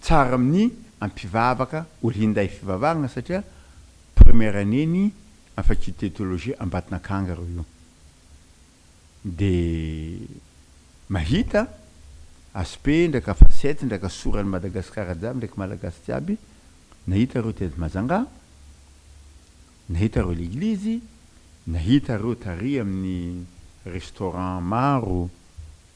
tsara amin'ny an mpivavaka ho linday fivavahagna satria première année ny an faculté théologie Ambatonakanga reo io de mahita aspect ndraika facette ndraika soran'i Madagascar jiaby ndraiky Malagasy jiaby nahita reo tety Majanga nahita reo leglizy nahita reo tary amin'ny restaurant maro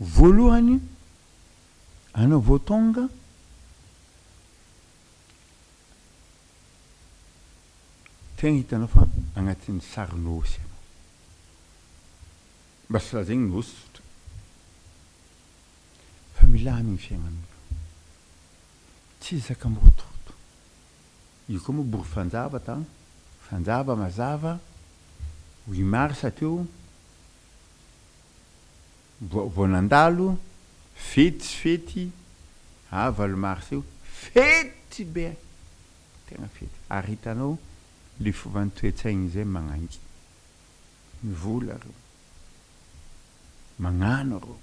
Voalohany, anao vao tonga, tegna hitanao fa agnatin'ny sary nosy ianao. Mba tsy lazaigny nosy tsotra, fa milamigny fiaignanao, tsy zaka mirotoroto. Io koa moa boky fanjava ta fanjava mazava huit mars teo vao vao nandalo fety tsy fety ah valo mars io fety be eh tena fety ary hitanao le fovan'ny toe-tsaina izay magnangy ny vola reo magnano reo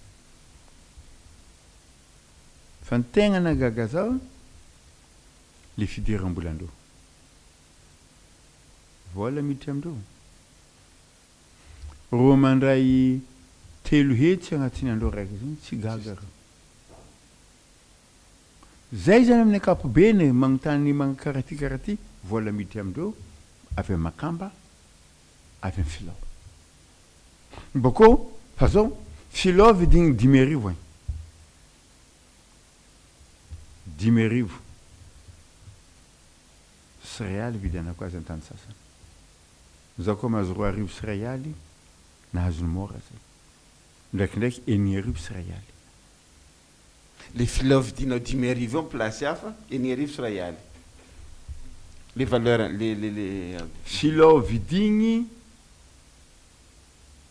fa ny tegna nahagaga zah. le fidiram-bolandreo. Vola miditra amindreo. Roa mandray telo hetsy agnatin'ny andro araiky zany tsy gaga reo. Zay zany amin'ny ankapobeny e, magnontany magn karaha ty karaha ty, vola miditra amindreo avy am makamba, avy am filao. Bôkô fa zao filao vidigny dimy arivo agny. Dimy arivo sy iray aly ividianako azy an-tany sasany. Izaho koa mahazo roa arivo sy iray aly nahazo ny mora izay. Indraikindraiky enina arivo sy iray aly. Ilay filao vidianao dimy arivo eo amin'ny plasy hafa, enina arivo sy iray aly. Ilay valeur, ilay, ilay, ilay. Filao vidigny.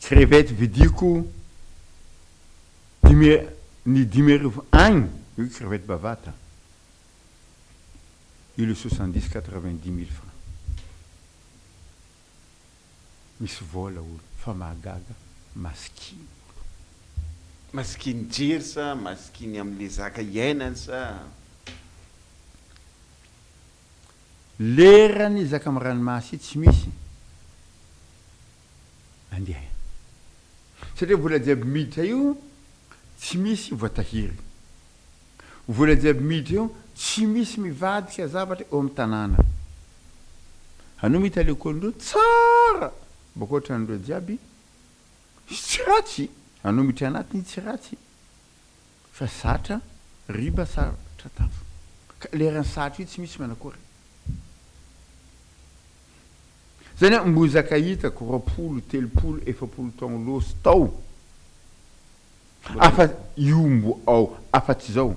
Tsy revette vidiako dimy ny dimy arivo agny io tsy revette bavata io le soixante dix quatre vingt dix mille francs misy vola olo fa mahagaga masikiny olo. Masikiny jery sa masikiny amle zaka iainany sa. Leran i zaka am ranomasy tsy misy andeha satria vola jiaby miditra io tsy misy voatahiry vola jiaby miditra io tsy misy mivadika zavatra eo am tanàna anao mita lekôly ndreo tsara bôka otran dreo jiaby sy tsy ratsy anao miditra anatiny tsy ratsy. Fa zatra riba zatra tafo. Ka leran'ny satro io tsy misy manakory. Zany aho mbozaka hitako roapolo, telopolo, efapolo taogno losy tao afa io mbo ao afa tsy zao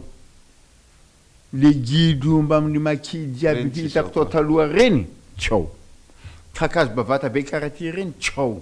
le gidro eo mbamin'ny maki jiaby hitako tao taloha reny tsy ao. Kakazo bavata be karaha ty reny tsy ao.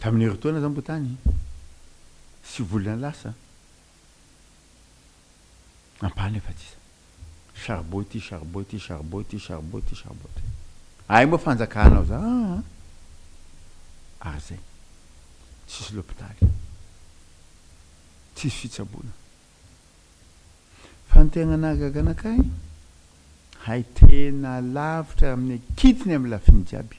Tamin'ny herintaona izany moa tany sivy volana lasa, ampahany efa tsisa. Charbon ity, charbon ity, charbon ity, charbon ity, charbon ity. Ay moa fanjakana ao za aa. Ary zay. Tsisy lopitaly. Tsisy fitsaboana. Fa ny tegna nahagaga anakay, hay tena lavitra amin'ny kitiny amin'ny lafiny jiaby.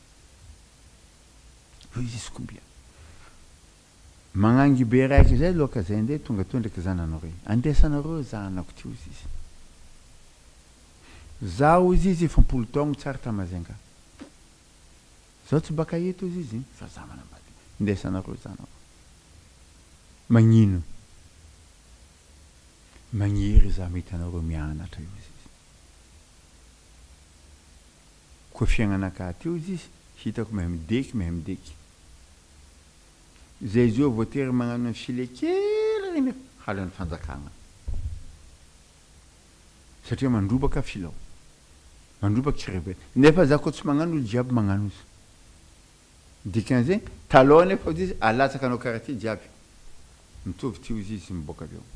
Voiziziko ombiana. Magnangy be raiky zay loaka zay ndre tonga teo ndreky zananao rey. Andesanareo zanako ty ozy izy. Za ozy izy efa am-polo taogno tsy ary ta Majunga. Zaho tsy baka eto ozy izy fa za manambady. Ndesanareo zanako. Magnino? Magniry za mety anareo mianatra ozy izy. Koa fiainana ka hateo izy izy hitako mehmdeky mehmdeky zay zao voatery magnano ny file kely reny halan'ny fanjakagna satria mandrobaka filao mandroba crevette nefa za koa tsy magnano olo jiaby magnano izy dikan'izay talon nefa ozy izy alatsaka anao karaha ty jiaby mitovy ty ozy izy miboaka avy ao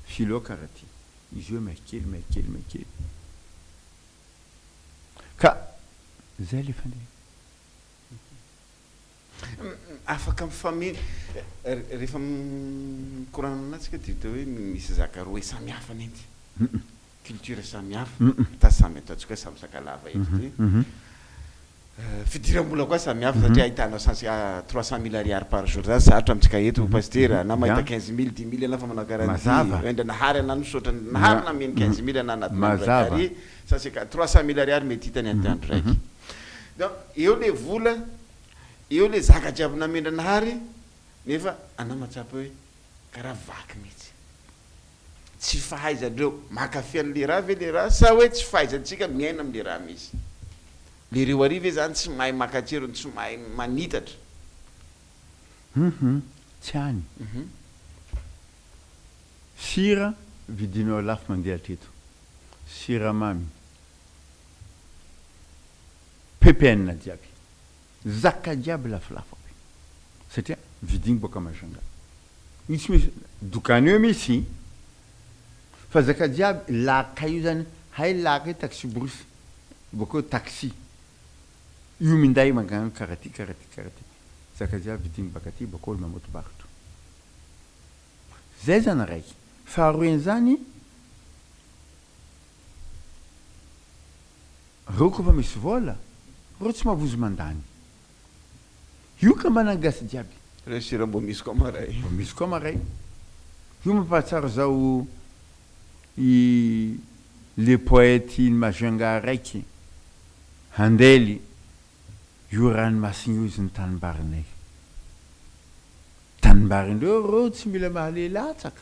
filao karaha ty izy eo mehkely mehkely mehkely. Ka zay le fandehany. Afaka mifameno rehefa mikorana aminà tsika dia hita hoe misy zaka roe samy hafa nenty. Culture samy hafa, ata samy ataontsika hoe samy sakalava eto ity. Fidiram-bola koa samy hafa satria ahitanao cent ci trois cent mille ariary par jour zany sarotra amintsika eto Pasitera na mahita quinze mille, dix mille ianao fa manao garantie hoe ndra nahary anà misaotra nahary nameno quinze mille anà anatin'ny andro raiky ary cent ci quatre, trois cent mille ariary mety hitany anatin'ny andro raiky. Donc eo le vola, eo le zaka jiaby namen'dranahary nefa anà mahatsapa hoe Karaha vaky mihitsy. Tsy fahaizandreo mankafy an'le raha ve le raha sa hoe tsy fahaizantsika miaina amle raha misy? Le reo ary ve zany tsy mahay maka tserony tsy mahay manitatra? Hum tsy any. Sira vidinao lafo mandeha hatreto. Siramamy. Ppn jiaby. Zaka jiaby lafolafo aby satria vidiny boaka Majunga io tsy misy dokany eo mitsy fa zaka jiaby laka io zany hay laka io taxi-brousse bokeo taxi io minday mankany kara ty kara ty kara ty zaka jiaby vidiny baka aty bokeo na moto barotra zay zany raiky faharoen zany Reo kofa misy vola, reo tsy mavozo mandany. Io ka mba nangasy jiaby. Reo sira mbo misy koa maray. Mbo misy koa maray. Io mampahatsiaro zao i le poète iny Majunga raiky, Handely io ranomasina io izy ny tanimbarinay. Tanimbarindreo reo tsy mila mahalehilahy tsaka.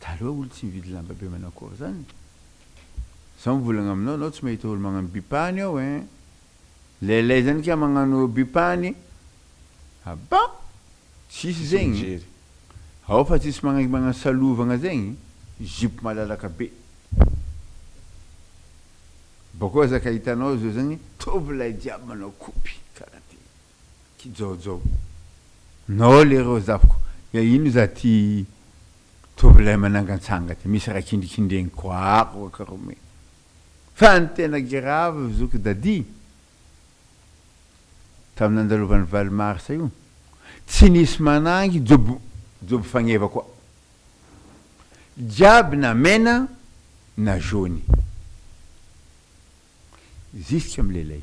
Taloha olo tsy mividy lamba be manakory zany. Zaho mivolagna aminao anao tsy mahita olo magnano bipany ao ein. Leley zany kay magnano bipany. Ah bon! Tsisy zegny. Ao fa tsisy magnaiky magnano salovagna zegny. Zipo malalaka be. Bakeo aza ka hitanao zao zany tovolahy jiaby manao kopy karaha ty. Kijaojao. Nao lereo zafiko ya ino za ty tovolahy manangantsanga ty misy raha kindrikindregny koa ako aka ro me fa ny tena giravy zoky dady tamy nandalovan'ny valo marsa io tsy nisy manangy job job fagneva koa jiaby na mena na jaune jusque am lelay.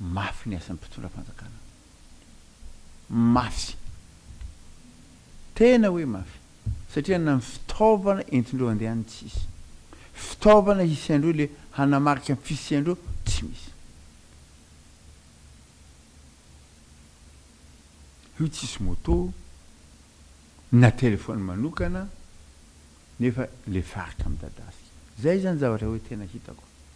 Mafy ny asan'ny mpitondra fanjakana. Mafy. Tena hoe mafy. Satria na ny fitaovana entindreo handeha any tsy hisy. Fitaovana hisiandreo ilay hanamarika ny fisiandreo tsy misy. Io tsy hisy moto na telefaony manokana nefa ilay faritra midadasika. Izay izany zavatra hoe tena hitako.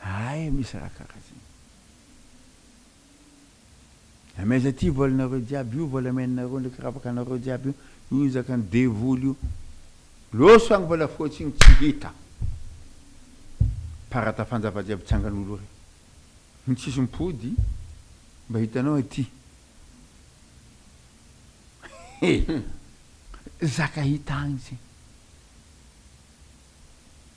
Hay misy raha karazany. Amaiza ty volanareo jiaby io volameninareo ndraiky ravakanareo jiaby io io izaka ny devoly io loso agny volafotsy igny tsy hita parata fanjava jiaby tsangan'olo re ny tsisy mipody mba hitanao aty zaka hita agny zay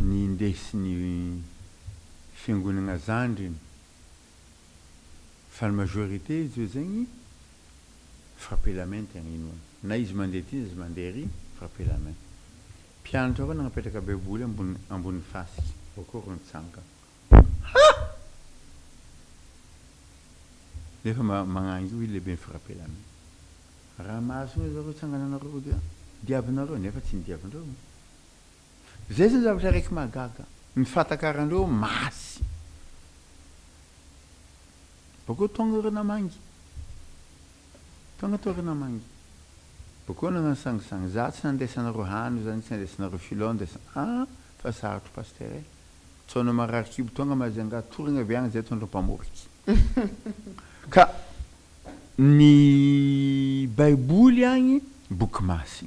Ny indesin'ny fiangonagna zandriny fa ny majorité zao zegny frappe la main tegna inoana na izy mandeha ty na izy mandeha ery frappe la main mpianatra koa nagnapetraka baiboly ambony ambony fasika akory ny tsangana ha nefa ma- magnangy io lehibe ny frappe la main raha mahazo io zareo tsangananareo dia diavinareo nefa tsy ny diavindreo Zay zany zavatra raiky mahagaga. Ny fatakaranreo masy. Bakeo tonga ireo namangy. Tonga teo ireo namangy. Bakeo nagnano sangisangy. Za tsy nandraisanareo hany zany tsy nandraisanareo filao ndraisa ah fa sarotro pasteur eh. Tsaona marary kibo tonga Majunga toragna avy agny zay tondra mpamoriky. Ka ny baiboly agny boky masy.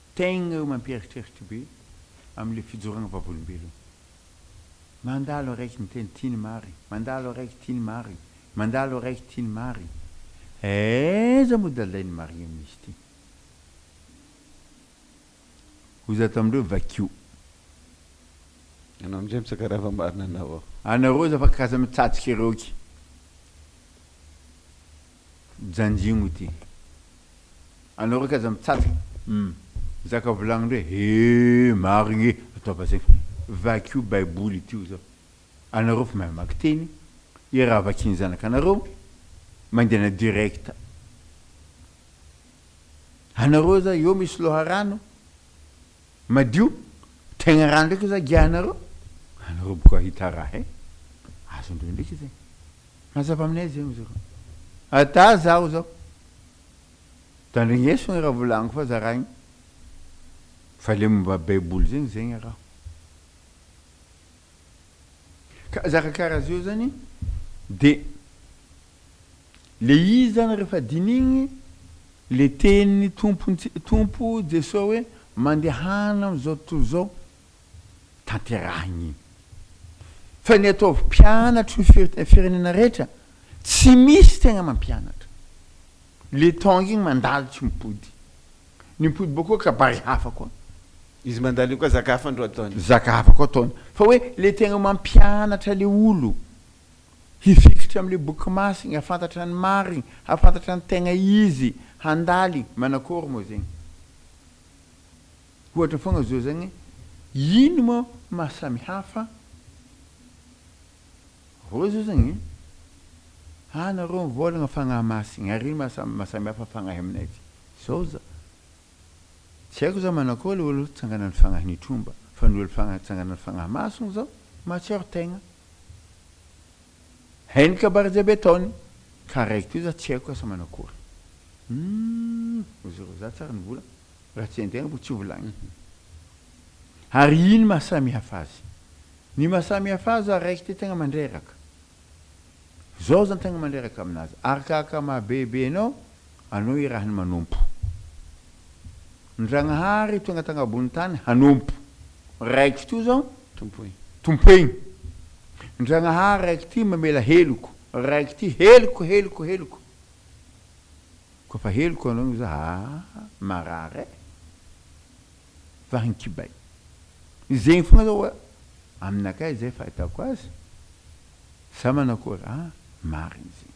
Tegna eo mampieritreritra be amle fijoragna vavolombelogno. Mandalo araiky miteny tiany marigny, mandalo araiky tiany marigny, mandalo araiky tiany marigny. Aiza moa dalain'ny marigny amin'izy ty? Hoy za tamindreo, vakio. Anao amizay mitsaka raha efa marina anao ao. Anareo za fa k'aza mitsatsik'eroky. Janjigno ity. Anao raiky aza mitsatsa umm zaka volagnindreo e hee marigny e ataova zegny fa vakio baiboly ity oza anareo fa mahay mamaky teny i raha vakian'ny zanakanareo mangina direct anareo oza eo misy loharano Madio tegna raha ndraiky za giahanareo anareo boka hita raha e azondreo ndraiky zay mazava aminay zay ozy reo ata zaho zao tandrigneso ny raha volagniko fa za raha igny fa le momba baiboly zegny zegny raha ka zaka karaha zeo zany de Le izy zany rehefa dinigny le tenin'ny Tompontsika Tompo Jesoa hoe mandehana amin'izao tontolo izao tanterahigny igny. Fa ny ataovy mpianatro ny firenena rehetra tsy misy tegna mampianatra. Le tongue igny mandalo tsy mipody. Ny mipody bôkô kabary hafa koa. Izy mandalo igny koa zaka hafa ndro ataony. Zaka hafa koa ataony. Fa hoe le tegna mampianatra le olo. Hifikitra amin'ilay boky masiny, hahafantatra ny marigny, hahafantatra ny tegna izy, handaly, manakôry moa zegny? Ohatra fôgna zao zagny, ino moa maha samihafa rô zao zagny? Anarô mivôlagna fagnahy masigny ary ino maha maha samihafa fagnahy aminay ty? Zao za, tsy haiko za manakôry le olo tsanganan'ny fagnahy nitromba, fa ny olo fagnahy tsanganan'ny fagnahy masigny zao mahatsiaro tegna. Hainy kabardia be taony ka raiky toy za tsy haiko asa manao akory humm ozy ro za tsara ny vola raha tsy haintegna bo tsy ho volagny humm ary ino maha samy hafa azy ny maha samy hafa azy za raiky ty tegna mandreraka zao zany tegna mandreraka aminazy arakaka maha bebe anao Anao irahiny manompo. Ndragnahary tonga tagnabonin'ny tany hanompo. Raiky f'ty zao. Tompoy. Tompoigny. Ndragnahary raiky ty mamela heloko. Raiky ty heloko heloko heloko. Koa fa heloko anao igny zah aa marary eh. Vahiny kibay. Zegny fogna zao oa aminakahy zay fahitako azy. Sa manakory? Aa marigny zegny.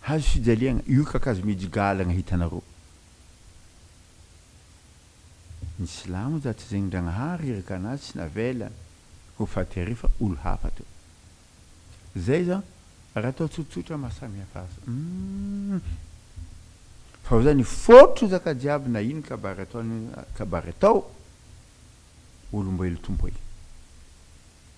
Hazo fijaliagna, io kakazo mijigalagna hitanareo. Ny silamo za tsy zegny Ndragnahary iraka anazy tsy navela ho faty are fa olo hafa to. Zay zan raha atao tsotsotra maha samy hafa azy humm. Fa za ny fotry zaka jiaby na ino kabary ataony kabary atao olomboelo tompo e.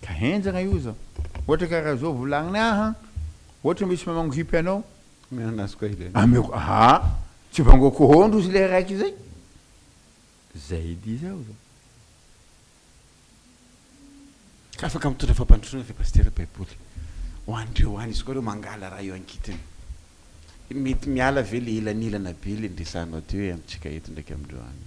Ka henjagna io za. Ohatra karaha zao volagniny aha, ohatra misy mamango hipy anao. Omeo anazy koa ilay. Ameko aha, tsy vangoako hoo ndrozy le raiky zay. Zay edy zaho za. Ka afaka mitondra fampandrosoana ve Pasitera Baiboly ho an'ireo any? Izy koa ireo mangala raha eo ankitiny. Mety miala ve le elanelana be le niresahanao teo hoe amintsika eto ndraiky amindreo any?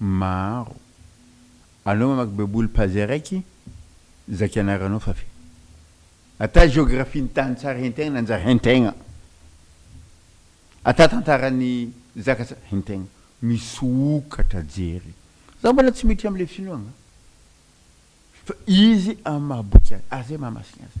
maro. Anao mamaky baiboly page araiky, zaka ianaranao fa vita. Ata géographie ny tany tsara hentegna nanjary hentegna. Ata tantaran'ny zaka tsara hentegna. Misokatra jery. Za mbola tsy miditra amle finoagna. Fa izy amin'ny maha boky azy. Ary zay mahamasina azy.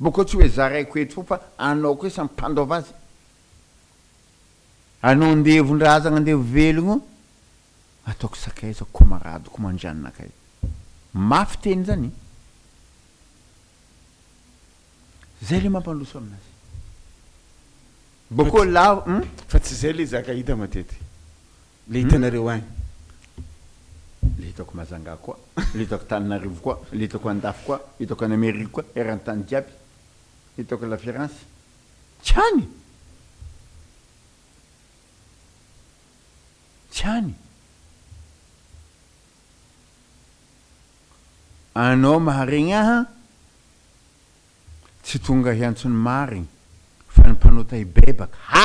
Mba koa tsy hoe zaraiko eto foa fa anao koa samy mpandaova azy. Anao andevon-drazagna andevo velogno ataoko sakaiza komaradiko mandranona kay. Mafy teny zany e. Zay le mampandroso aminazy. Mba koa lavo hum. Fa tsy zay le zaka hita matetika. Le hitanareo any. Le hitako Majanga koa, le hitako Tananarivo koa, le hitako Andafy koa, hitako any Amerika koa, eran-tany jiaby. Hitako La Firenze. Tsy any! Tsy any! Anao maharegny ahy an! Tsy tonga hiantso ny marigny, fa ny mpanota hibebaka. Ha!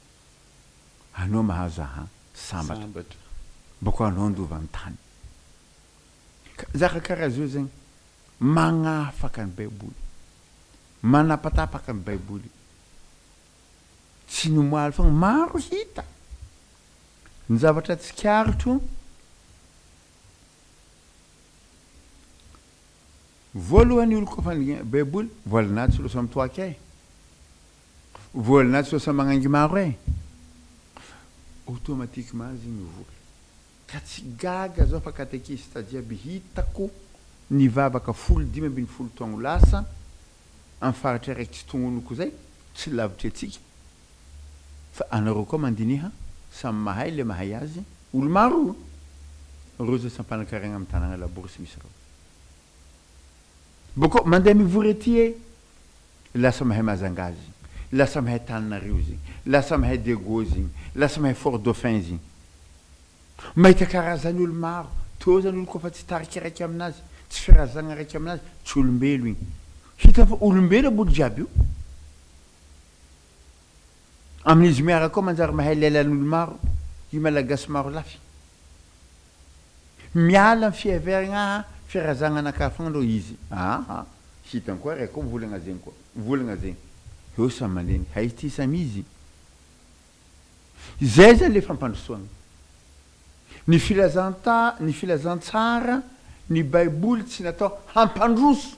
Anao mahazo ahy sambatra. Mba koa anao handova ny tany. Zaka karaha zao zegny magnafaka ny baiboly. Manapatapaka ny baiboly. Tsy ny omaly fogna, maro hita. Ny zavatra tsikaritro, voalohany oloko fa ny baiboly voalanahy tsy losa mitoaky e. Vola na tsy ho lasa magnaingy maro eh! Automatiquement zegny ny vola. Ka tsy gaga zao fa katekista jiaby hitako nivavaka folo dimy ambin'ny folo taogno lasa am faritra raiky tsy tognonoko zay, tsy lavitry atsika, fa anareo koa mandiniha, samy mahay le mahay azy, olo maro reo zay tsy ampanakariagna am tanagna labory tsy misy reo. Boko mandeha mivory aty eh! Lasa mahay Majunga izy igny, lasa mahay Tananarivo izy igny, lasa mahay Diego izy igny, lasa mahay Fort Dauphin izy igny. Mahita karazany olo maro, teo zany olo koa fa tsy tarika raiky aminazy, tsy firazagna raiky aminazy, tsy olombelo igny. Hitany fa olombelo aboly jiaby io. Amin'izy miaraka ao manjary mahay lailan'olo maro i Malagasy maro lafy. Miala amin'ny fihaveragna aha firazagna anakafagna ndrô izy aha hitany koa reko mivolagna zegny koa mivolagna zegny eo samy mandeha hay ty samy izy zay zany le fampandrosoagna ny filazanta ny filazantsara ny baiboly tsy natao hampandroso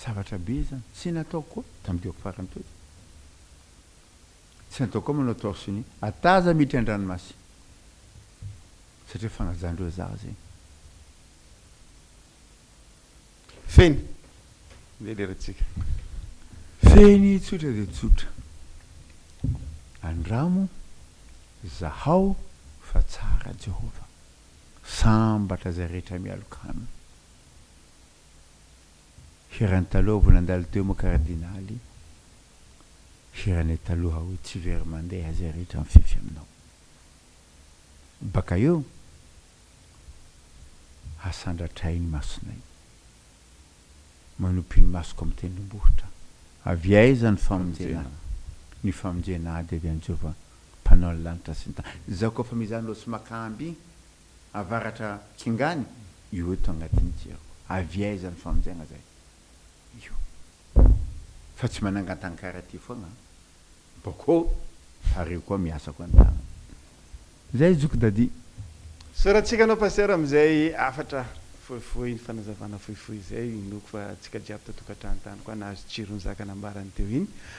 Zavatra be izany. Tsy nataoko koa tamin'ny diako farany teo izany. Tsy nataoko koa manao torse nu, hataza miditra an-dranomasina. Satria fagnajan'ireo izaho zegny. Feny, ndeha lerantsika. Feny tsotra dia tsotra. Andramo izahao fa tsara Jehovah. Sambatra izay rehetra mialoka aminy. Hiran'i taloha vao nandalo teo moa kardinaly, hiranay taloha hoe tsy very mandeha izay rehetra mifefy aminao. Baka eo, hasandratra ahy ny masonay. Manopy ny masoko amin'ny tendrombohitra. Avy aiza ny famonjena? Ny famonjena dia avy amin'i Jehovah, Mpanao ny lanitra sy ny tany. Izaho koa fa mizany ireo tsy maka amby, Avaratra Tsingany io eto agnatiny ty aho avy aiza ny famonjegna zay io fa tsy manangantankara ty fogna boko fa reo koa miasa koa ny tagnana zay zoky Dadi. Soratsika anao Pasteur amizay hafatra fohifohy ny fanazavana fohifohy zay inoako fa tsika jiaby tatokantrano tany koa nahazo tsiro ny zaka nambarany teo iny